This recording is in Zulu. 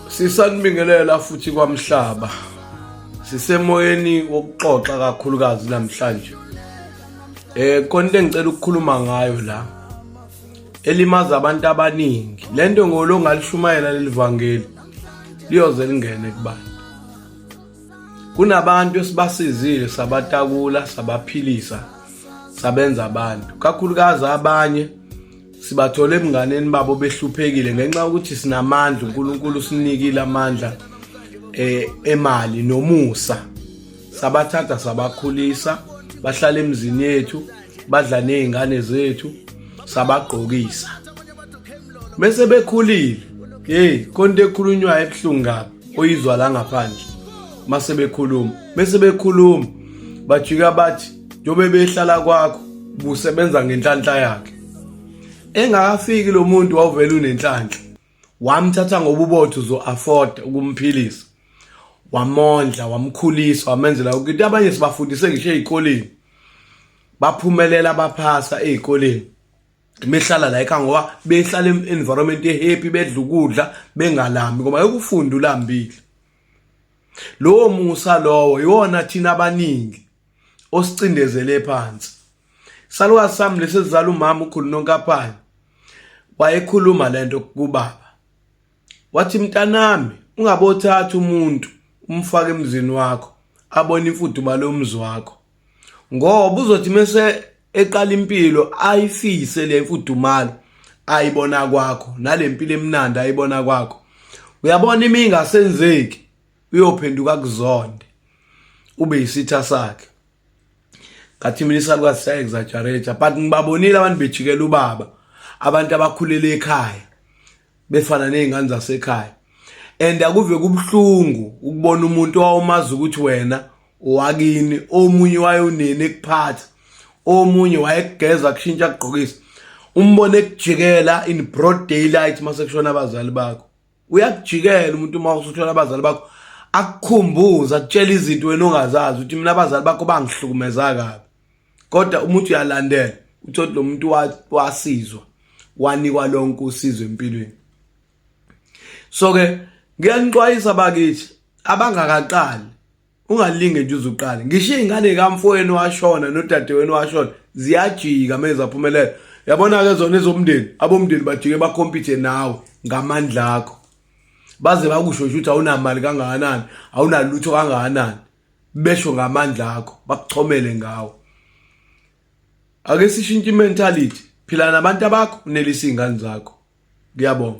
Sisanibingelela futhi kwamhlaba. Sisemoyeni wokuxoxa kakhulukazi namhlanje. Eh konke engicela ukukhuluma ngayo la elimaza abantu abaningi. Lento ngolo ngalishumayela lelivangeli liyoze lingene kubantu. Kunabantu esibasizile sabatakula sabaphilisa sabenza abantu kakhulukazi abanye sibathole ebunganeni babo behluphekile ngenxa yokuthi sinamandla uNkulunkulu usinikile amandla eh emali nomusa sabathatha sabakhulisa bahlala emzini yethu badla nezingane zethu sabagqokisa bese bekhulile hey konto ekhulunywa ebuhlungu kabi oyizwa la ngaphandle mase bekhuluma bese bekhuluma bajika bathi njengoba behlala kwakho busebenza ngenhlanhla yakhe engakafiki lo muntu wawuvela unenhlanhla wamthatha ngoba ubotho uzo-afford ukumphilisa wamondla wamkhulisa wamenzela ukuthi abanye sibafundise ngisho ey'koleni baphumelela baphasa ey'koleni behlala la ekhaya ngoba behlala environment ehappy bedla ukudla bengalambi ngoba yokufunda ulambile lowo musa lowo iwona thina abaningi osicindezele phansi salukazi sami lesi sizala umama ukhulu nonkaphane wayekhuluma lento kubaba wathi mntanami ungabothatha umuntu umfake emzini wakho abone imfuduba lomzi wakho ngoba uzothi mese eqala impilo ayifise le mfudumalo ayibona kwakho nalempilo emnandi ayibona kwakho uyabona imingasenzeki uyophenduka kuzonde ube yisitha sakhe ngathi mina isalukazi siyaexagerate but ngibabonile abantu bejikela ubaba abantu abakhulele ekhaya befana nezingane zasekhaya and akuve kubuhlungu ukubona umuntu owawumazi ukuthi wena owakini omunye wayonini ekuphatha omunye wayekugeza kushintsha kugqokisa umbone ekujikela in broad daylight masekushona abazali bakho uyakujikela umuntu uma usuthola abazali bakho akukhumbuza akutshela izinto wena ongazazi ukuthi mina abazali bakho bangihlukumeza kabi kodwa umuntu uyalandela uthi lo muntu wasizwa wanikwa lonke usizo empilweni so ke ngiyanixwayisa bakithi abangakaqali ungalinge nje uzuqale ngisho izingane kamfowenu washona nodadewenu washona ziyajika meza phumelela yabona ke zona ezomndeni abomndeni bajike bakompete nawe ngamandla akho baze bakusho ukuthi awunamali kangakanani awunalutho kangakanani besho ngamandla akho bakuchomele ngawo ake sishintshe imentality phila nabantu abakho unelisa izingane zakho ngiyabonga